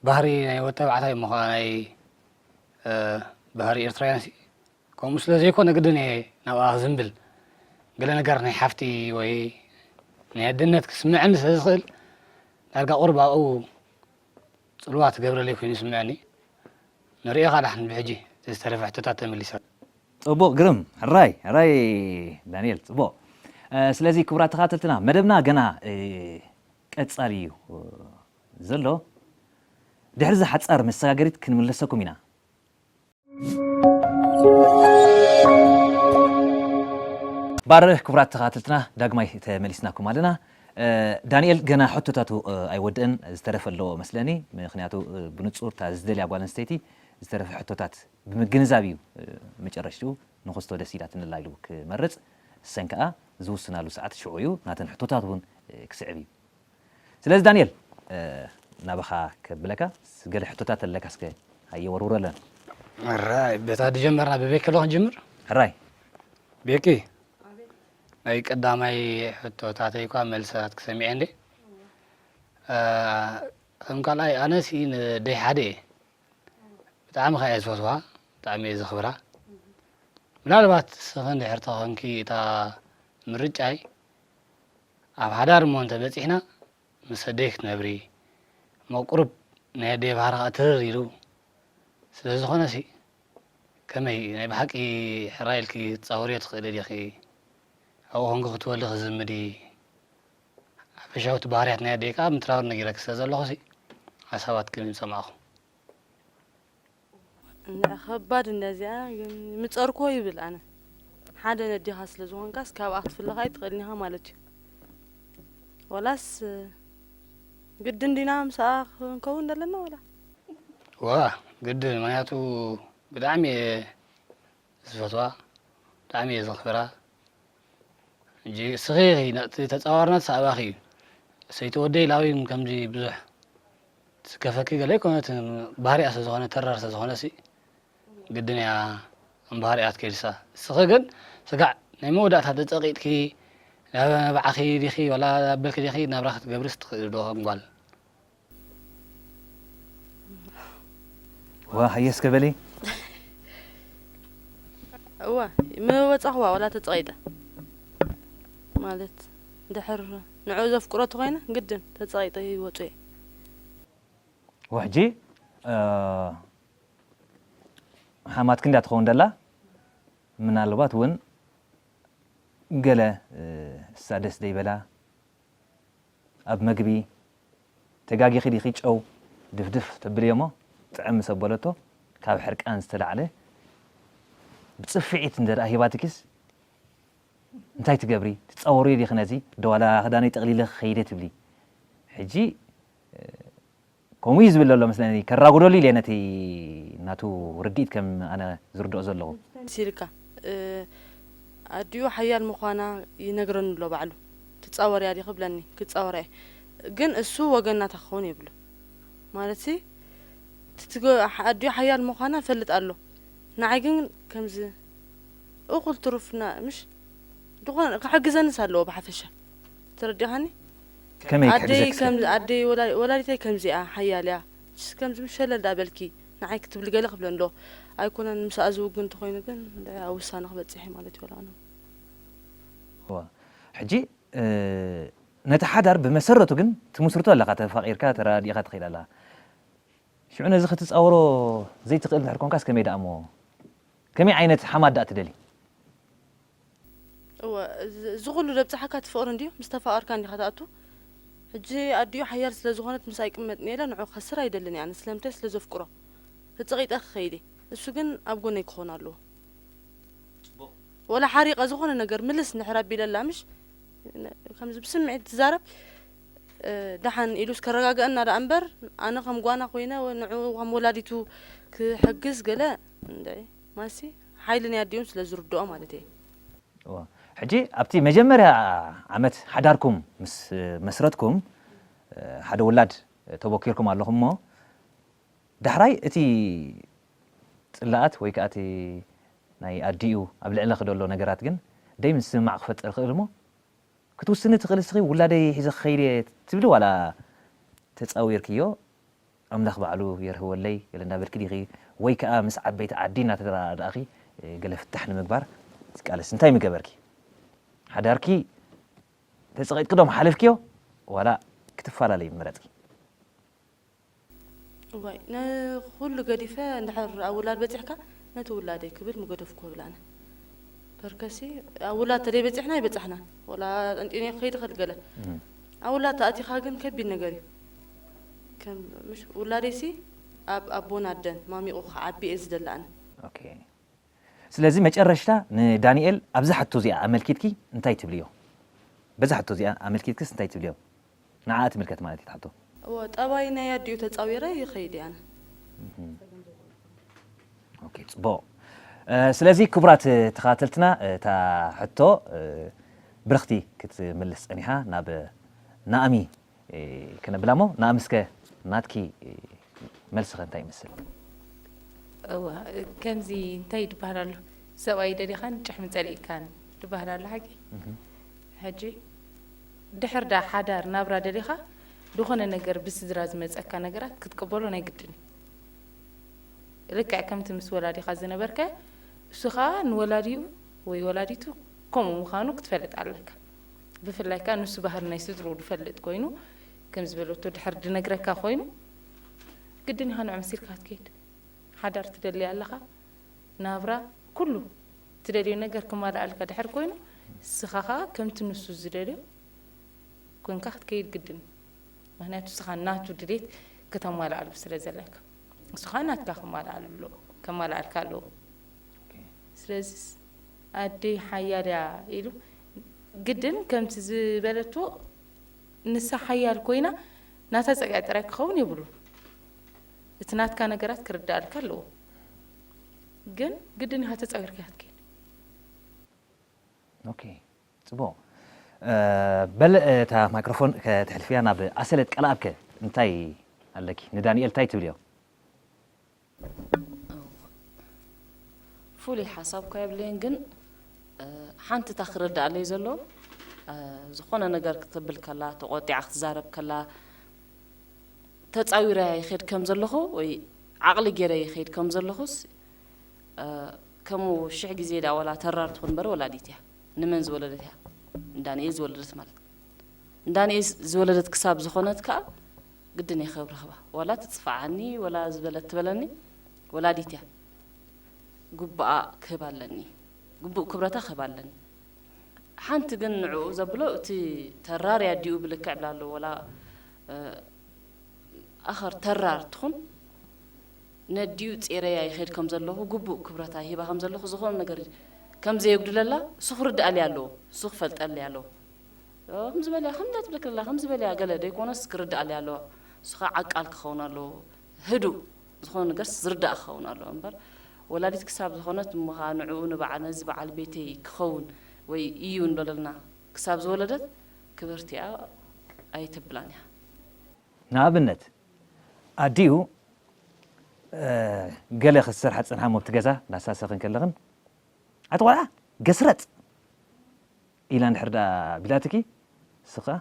ባህሪ ናይ ወድ ተባዕታይ እሞ ከኣ ናይ ባህሪ ኤርትራውያን ከምኡ ስለ ዘይኮነ ግድን እየ ናብኣ ክዝምብል። ገለ ነገር ናይ ሓፍቲ ወይ ናይ ኣደነት ክስምዐኒ ስለ ዝኽእል ዳርጋ ቁሩብ ኣብኡ ጽልዋ ትገብረለይ ኮይኑ ይስምዐኒ። ንርእኻ ዳሕን ብሕጂ እቲ ዝተረፈ ሕቶታት ተመሊሰ። ጽቡቕ ግርም ሕራይ ሕራይ ዳንኤል ጽቡቕ ስለዚ ክቡራት ተኻተልትና መደብና ገና ቀጻሊ እዩ ዘሎ ድሕሪ እዚ ሓጻር መሰጋገሪት ክንምለሰኩም ኢና። ባርህ ክቡራት ተኸታተልትና ዳግማይ ተመሊስናኩም ኣለና። ዳኒኤል ገና ሕቶታቱ ኣይወድእን ዝተረፈ ኣለዎ መስለኒ ምክንያቱ ብንጹር እታ ዝደልያ ጓል ኣንስተይቲ ዝተረፈ ሕቶታት ብምግንዛብ እዩ መጨረሽትኡ ንክስቶ ደስ ኢላትኒ ኣላ ኢሉ ክመርጽ ንሰን ከኣ ዝውስናሉ ሰዓት ሽዑ እዩ ናተን ሕቶታት እውን ክስዕብ እዩ ስለዚ ዳኒኤል ናባኻ ከብለካ ገለ ሕቶታት ኣለካ እስከ ሃየ ወርውረለን። ሕራይ በታ ድጀመርና ብቤኪ ዶ ክንጅምር? ሕራይ ቤኪ ናይ ቀዳማይ ሕቶታተይ እኳ መልስታትኪ ሰሚዐ እንዴ ከም ካልኣይ ኣነሲ ንደይ ሓደ እየ ብጣዕሚ ከ እየ ዝፈትዋ ብጣዕሚ እየ ዘኽብራ ምናልባት ንስኺ እንድሕር ተኾንኪ እታ ምርጫይ ኣብ ሓዳር እሞ እንተ በጺሕና ምስ ኣደይ ክትነብሪ እሞ ቁሩብ ናይ ኣደይ ባህሪ ከኣ ትርር ኢሉ ስለ ዝኾነሲ ከመይ ናይ ብሓቂ ሕራይ ኢልኪ ክትጻወርዮ ትኽእሊ ዲኺ ኣብኡ ኮንኪ ክትወሊ ክትዝምዲ ሓፈሻውቲ ባህርያት ናይ ኣደይ ከኣ ምትራር ነጊረኪ ስለ ዘለኹሲ ሓሳባትኪ ምሰማዕኩ ከባድ እንደዚኣ ምጸርኮ ይብል ኣነ ሓደ ነዲኻ ስለ ዝኾንካስ ካብኣ ክትፍለኻ ኣይትኽእልን ኢኻ ማለት እዩ ወላስ ግድን ዲና ምስኣ ክንከውን ዘለና ወላ ዋ ግድን ምክንያቱ ብጣዕሚ እየ ዝፈትዋ ብጣዕሚ እየ ዘኽብራ እንጂ እስኺ ኢኺ ነቲ ተጻዋርነት ኣባኺ እዩ ሰይቲ ወደይ ላብይ ከምዚ ብዙሕ ትስከፈኪ ገለ ኣይኮነ እቲ ባህሪኣ ስለ ዝኾነ ተራር ስለ ዝኾነ ሲ ግድን እያ እምባህሪኣ ትከይድሳ እስኺ ግን ስጋዕ ናይ መወዳእታ ተጸቂጥኪ ናብ ባዕኺ ዲኺ ወላ ኣበልኪ ዲኺ ናብራ ክትገብሪ ስትኽእሊ ዶ እምጓል እዋ ሃየ እስከ በሊ እዋ ምወጻኹዋ ዋላ ተጸቒጠ ማለት ድሕር ንዕኡ ዘፍቅሮ ተኾይነ ግድን ተጸቒጠ ይወጹ እየ ወሕጂ ሓማት ክንዳ ትኸውን ደላ ምናልባት እውን ገለ እሳ ደስ ደይበላ ኣብ መግቢ ተጋጊኺ ዲኺ ጨው ድፍድፍ ተብልዮሞ ጥዕም ምስ ኣበለቶ ካብ ሕርቃን ዝተላዕለ ብጽፍዒት እንተ ሂባትኪስ እንታይ ትገብሪ ትጻወርዮ ዲኺ ነዚ ዶ ዋላ ክዳነይ ጠቕሊለ ክኸይደ ትብሊ ሕጂ ከምኡ እዩ ዝብል ዘሎ መስለኒ ከራጉደሉ ኢለ ነቲ ናቱ ርድኢት ከም ኣነ ዝርድኦ ዘለኹ። ሲልካ ኣዲኡ ሓያል ምዃና ይነግረኒ ኣሎ ባዕሉ። ትጻወርያ ዲኺ ይብለኒ ክጻወራ እየ ግን እሱ ወገን ናታ ክኸውን የብሉ ማለትሲ እቲ ኣዲኡ ሓያል ምዃና ይፈልጥ ኣሎ ንዓይ ግን ከምዚ እኹል ትሩፍ ምሽ ድኾነ ክሕግዘንስ ኣለዎ ብሓፈሻ ተረዲኻኒ። ከመይ ኣደይ ክሕግዘኪ ስለ። ከም ኣደይ ወላዲተይ ከምዚኣ ሓያል እያ ችስ ከምዚ ምስ ሸለል ድኣ በልኪ ንዓይ ክትብሊ ገለ ክብለ እንዶ ኣይኮነን ምስኣ ዝውግን እንተኮይኑ ግን እንድዒ ኣብ ውሳነ ክበጽሕ እየ ማለት ይበሎ ኣነ እወ ሕጂ ነቲ ሓዳር ብመሰረቱ ግን ትምስርቶ ኣለካ ተፋቂርካ ተረዳዲእካ ትከይድ ኣለካ ሽዑ ነዚ ክትጻወሮ ዘይትክእል እንድሕር ኮንካስ ከመይ ድኣ እሞ ከመይ ዓይነት ሓማት ድኣ ትደሊ። እወ እዚ ኩሉ ደብጽሓካ እቲ ፍቅሪ እንድዩ ምስ ተፋቀርካ እንዲካ ትኣቱ ሕጂ ኣዲኡ ሓያል ስለ ዝኮነት ምስኣ ይቅመጥ እንኤለ ንዑ ክከስር ኣይደልን እየ ኣነ ስለምንታይ ስለ ዘፍቅሮ ተጸቂጠ ክከይድ እየ እሱ ግን ኣብ ጎነይ ክኮን ኣለዎ ወላ ሓሪቀ ዝኮነ ነገር ምልስ እንድሕር ኣቢለላ ምሽ ከምዚ ብስምዒት ትዛረብ ደሓን ኢሉስ ከረጋገአና ደኣ እምበር ኣነ ከም ጓና ኮይነ ንዑ ከም ወላዲቱ ክሕግዝ ገለ እንደ ማሲ ሓይሊ ናይ ኣዲኦም ስለ ዝርድኦ ማለት እየ። እወ ሕጂ ኣብቲ መጀመርያ ዓመት ሓዳርኩም ምስ መስረትኩም ሓደ ውላድ ተቦኪርኩም ኣለኹም እሞ ዳሕራይ እቲ ጽላኣት ወይ ከኣ እቲ ናይ ኣዲኡ ኣብ ልዕለኺ ደሎ ነገራት ግን ደይ ምስምማዕ ክፈጥር ይኽእል እሞ ክትውስኒ ትኽእሊ እስኺ ውላደይ ሒዘ ክኸይድ እየ ትብሊ ዋላ ተጻዊርክዮ ኣምላኽ ባዕሉ የርህወለይ ገለ እንዳበልኪ ዲኺ ወይ ከኣ ምስ ዓበይቲ ዓዲ እናተረዳዳእኺ ገለ ፍታሕ ንምግባር ትቃለሲ? እንታይ ምገበርኪ? ሓዳርኪ ተጸቒጥኪ ዶ ምሓለፍክዮ ዋላ ክትፋላለዪ ምመረጽኪ? እዋይ ንኹሉ ገዲፈ እንድሕር ኣብ ውላድ በጺሕካ ነቲ ውላደይ ክብል ምገደፍኩ እብል ኣነ። በርከሲ ኣብ ውላድ ተደይበጺሕና ኣይበጻሕናን ወላ ጠንጢነዮ ክኸይድ እኽእል ገለ ኣብ ውላድ ተኣቲኻ ግን ከቢድ ነገር እዩ። ከም ምሽ ውላደይሲ ኣብ ኣቦን ኣደን ማሚቑ ክዓቢ እየ ዝደላ'ን። ኦኬ ስለዚ መጨረሽታ ንዳኒኤል ኣብዛ ሕቶ እዚኣ ኣመልኪትኪ እንታይ ትብልዮ? በዛ ሕቶ እዚኣ ኣመልኪትክስ እንታይ ትብልዮ? ንዓኣ ትምልከት ማለት እዩ እታ ሕቶ። እወ ጠባይ ናይ ኣዲኡ ተጻዊረ ይኸይድ እየ ኣነ። ኦኬ ጽቡቕ ስለዚ ክቡራት ተኸታተልትና እታ ሕቶ ብርኽቲ ክትምልስ ጸኒሓ ናብ ናኣሚ ክነብላ እሞ ንኣምስከ ናትኪ መልሲ ከ እንታይ ይመስል? እዋ ከምዚ እንታይ ድበሃል ኣሎ ሰብኣይ ደሊኻን ጭሕሚ ጸሊእካን ድበሃል ኣሎ ሓቂ ሕጂ ድሕር ዳ ሓዳር ናብራ ደሊኻ ዝኾነ ነገር ብስድራ ዝመጸካ ነገራት ክትቅበሎ ናይ ግድን እዩ ልክዕ ከምቲ ምስ ወላዲኻ ዝነበርከ እሱ ኸኣ ንወላዲኡ ወይ ወላዲቱ ከምኡ ምዃኑ ክትፈልጥ ኣለካ። ብፍላይ ከኣ ንሱ ባህሪ ናይ ስድርኡ ዝፈልጥ ኮይኑ ከምዚ በለቶ ድሕር ድነግረካ ኮይኑ ግድን ኢኻ ንዑ መሲልካ ክትከይድ ሓዳር ትደሊ ኣለኻ ናብራ ኩሉ ትደልዮ ነገር ክማልኣልካ ድሕር ኮይኑ ስኻ ከኣ ከምቲ ንሱ ዝደልዮ ኮንካ ክትከይድ ግድን እዩ ምክንያቱ ስኻ ናቱ ድሌት ከተማልኣሉ ስለ ዘለካ ንሱ ከዓ ናትካ ከማልኣሉ ኣለዎ ከማልኣልካ ኣለዎ ስለዚ ኣደይ ሓያል እያ ኢሉ ግድን ከምቲ ዝበለቶ ንሳ ሓያል ኮይና ናታ ጸግዒ ጥራይ ክኸውን የብሉን። እቲ ናትካ ነገራት ክርዳኣልካ ኣለዎ። ግን ግድን ኢኻ ተጻዊርካ ኢኻ ትከይድ። ኦኬ ጽቡቕ በል እታ ማይክሮፎን ከተሕልፍያ ናብ ኣሰለት ቀልኣብ ከ እንታይ ኣለኪ ንዳኒኤል እንታይ ትብልዮ? ፍሉይ ሓሳብ እኳ የብለይን ግን ሓንቲ እታ ክርድኣለይ ዘሎ ዝኾነ ነገር ክትብል ከላ ተቖጢዓ ክትዛረብ ከላ ተጻዊረያ ይኸይድ ከም ዘለኹ ወይ ዓቕሊ ገይረ ይኸይድ ከም ዘለኹስ ከምኡ ሽሕ ግዜ ድኣ ወላ ተራር ትኹን እምበር ወላዲት እያ ንመን ዝወለደት እያ እንዳንኤል ዝወለደት ማለት እንዳንኤል ዝወለደት ክሳብ ዝኾነት ከዓ ግድን እየ ከብርህባ ዋላ ትጽፋዓኒ ወላ ዝበለት ትበለኒ ወላዲት እያ ጉብኣ ክህባ ኣለኒ ጉቡእ ክብረታ ክህባ ኣለኒ ሓንቲ ግን ንዕኡ ዘብሎ እቲ ተራር እያ ዲኡ ብልክዕ ብላ ኣሎ ወላ ኣኸር ተራር ትኹን ነዲኡ ጼረያ ይኸድ ከም ዘለኹ ጉቡእ ክብረታ ይህባ ከም ዘለኹ ዝኾነ ነገር ከም ዘየጉድለላ እሱ ክርድኣልያ ኣለዎ እሱ ክፈልጠልያ ኣለዎ ከምዚ በልያ ከምዚ ኣትብለኪ ኣላ ከምዚ በልያ ገለ ደይኮነስ ክርድኣለይ ኣለዋ እሱ ከኣ ዓቃል ክኸውን ኣለዎ ህዱእ ዝኾነ ነገርስ ዝርዳእ ክኸውን ኣለዎ እምበር ወላዲት ክሳብ ዝኾነት እሞ ከኣ ንዕኡ ንበዓል ነዚ በዓል ቤተይ ክኸውን ወይ እዩ ንበለልና ክሳብ ዝወለደት ክብርቲ እያ ኣይተብላን እያ። ንኣብነት ኣዲኡ ገለ ክትሰርሓ ትጸንሓ እሞ ኣብቲ ገዛ ናሳ ሰክን ከለኽን ኣቲ ቆልዓ ገስረጥ! ኢላ እንድሕር ደኣ ቢላትኪ እስኺ ከኣ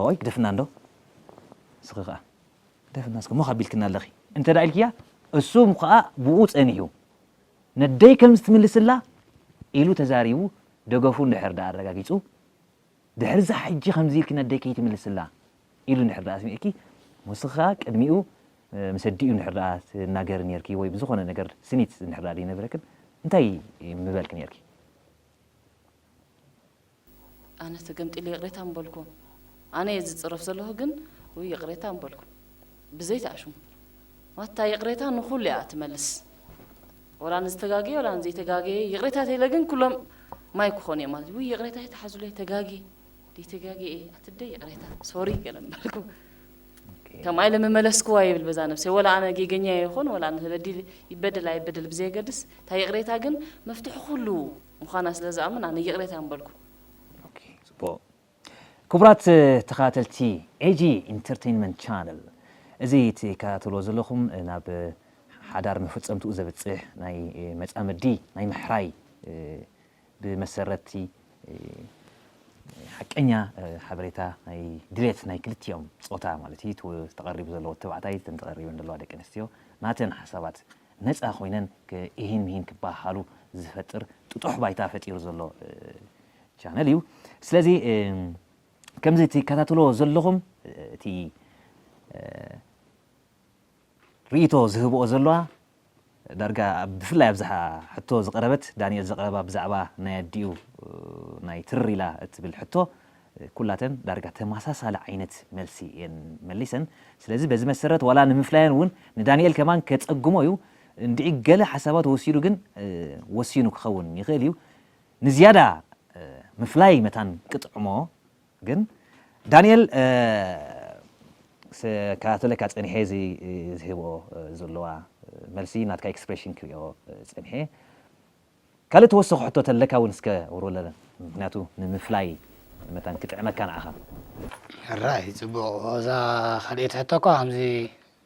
ኦይ ግደፍና እንዶ እስኺ ከኣ ግደፍና እስኪ ሞኽ ኣቢልክና ኣለኺ እንተ ደኣ ኢልክያ እሱ ከኣ ብኡ ጸኒሑ ነደይ ከምዚ ትምልስላ ኢሉ ተዛሪቡ ደገፉ እንድሕር ደኣ ኣረጋጊጹ ድሕርዚ ሕጂ ከምዚ ኢልኪ ነደይ ከይትምልስላ ኢሉ እንድሕር ደኣ ኣስሚዕኪ እሞ እስኺ ከኣ ቅድሚኡ ምስ ኣዲኡ እንድሕር ደኣ ትናገሪ ኔርኪ ወይ ብዝኾነ ነገር ስኒት እንድሕር ደኣ ዘይነበረክን እንታይ ምበልኪ ኔርኪ? ኣነ ተገምጢለ ይቕሬታ ምበልኩ ኣነ እየ ዝጽረፍ ዘለኹ ግን ውይ ይቕሬታ ምበልኩ ብዘይ ተኣሽሙ ማታ ይቕሬታ ንኹሉ እያ ትመልስ ወላ ንዝተጋገየ ወላ ንዘይተጋገየ ይቕሬታ ተይለ ግን ኩሎም ማይ ክኾኑ እዮም ማለት ውይ ይቕሬታ ይተሓዙለይ ተጋግየ ደይተጋግየ እየ ኣትደ ይቕሬታ ሶሪ ገለ ምበልኩ ከም ኣይለ መመለስክዋ ይብል በዛ ነብሰ ወላ ኣነ ጌገኛ ይኹን ወላ ተበዲል ይበደል ኣይበደል ብዘየገድስ እታ ይቕሬታ ግን መፍትሒ ኩሉ ምዃና ስለ ዝኣምን ኣነ ይቕሬታ ምበልኩ። ኦኬ ጽቡቕ ክቡራት ተኸታተልቲ ኤጂ ኢንተርተይንመንት ቻነል እዚ ትከታተልዎ ዘለኹም ናብ ሓዳር መፈጸምትኡ ዘብጽሕ ናይ መጻምዲ ናይ ምሕራይ ብመሰረቲ ሓቀኛ ሓበሬታ ናይ ድሌት ናይ ክልቲኦም ጾታ ማለት እዩ ተቐሪቡ ዘለዎ ተባዕታይ እተን ተቐሪበን ዘለዋ ደቂ ኣንስትዮ ናተን ሓሳባት ነጻ ኮይነን ኢሂን ምሂን ክበሃሃሉ ዝፈጥር ጥጡሕ ባይታ ፈጢሩ ዘሎ ቻነል እዩ። ስለዚ ከምዚ ትከታተልዎ ዘለኹም እቲ ርእይቶ ዝህብኦ ዘለዋ ዳርጋ ብፍላይ ኣብዛ ሕቶ ዝቐረበት ዳንኤል ዘቕረባ ብዛዕባ ናይ ኣዲኡ ናይ ትርር ኢላ እትብል ሕቶ ኩላተን ዳርጋ ተማሳሳሊ ዓይነት መልሲ እየን መሊሰን ስለዚ በዚ መሰረት ዋላ ንምፍላየን ውን ንዳኒኤል ከማን ከጸግሞ እዩ እንድዒ ገለ ሓሳባት ወሲዱ ግን ወሲኑ ክኸውን ይኽእል እዩ ንዝያዳ ምፍላይ መታን ክጥዕሞ ግን ዳኒኤል ክከታተለካ ጸኒሐ እዚ ዝህቦ ዘሎዋ መልሲ ናትካ ኤክስፕረሽን ክሪኦ ጸኒሐ ካልእ ተወሰኹ ሕቶ ተለካ ውን እስከ ውርውለለን ምክንያቱ ንምፍላይ መታን ክጥዕመካ ንዓኻ። ሕራይ ጽቡቕ እዛ ካልኤይቲ ሕቶ እኳ ከምዚ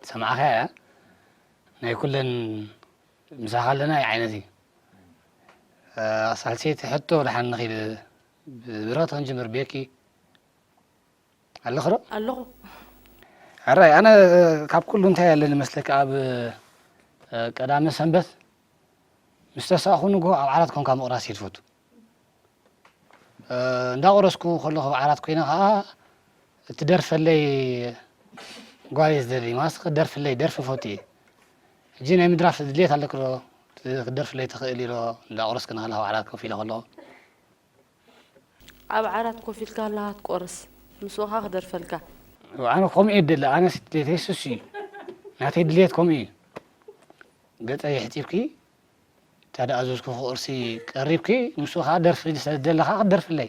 ዝሰማዕካያ እያ ናይ ኩለን ምሳኻ ኣለና ዓይነት እዩ ሳልሰይቲ ሕቶ ድሓን ንኺድ ብብረኽቲ ክንጅምር ቤኪ። ኣለኺ ዶ? ኣለኹ። ሕራይ ኣነ ካብ ኩሉ እንታይ ኣለኒ መስለኪ ኣብ ቀዳመ ሰንበት ምስ ተሳእኹ ንግሆ ኣብ ዓራት ኮንካ ምቕራስ እየ ትፈቱ እንዳቆረስኩ ከለኹ ኣብ ዓራት ኮይነ ከዓ እትደርፈለይ ጓየ ዝደሊ ማለት ክደርፍለይ ደርፊ ፈቱ እየ ሕጂ ናይ ምድራፍ ድሌት ኣለኪ ዶ ክደርፍለይ ትኽእል ዶ እንዳቆረስኪ ንኸለኻ ኣብ ዓራት ኮፍ ኢለ ከለኹ ኣብ ዓራት ኮፍ ኢልካ ኣለኻ ትቆርስ ምስ በኻ ክደርፈልካ። ኣነ ከምኡ እየ ዝደሊ ኣነስ ድሌተይ ሱሱ እዩ ናተይ ድሌት ከምኡ እዩ ገፀይ ሕፂብኪ ታዳኣዘዝኩ ክቅርሲ ቀሪብኪ ምስ በኻ ደርፊ ሰለዝደለኻ ክትደርፍለይ።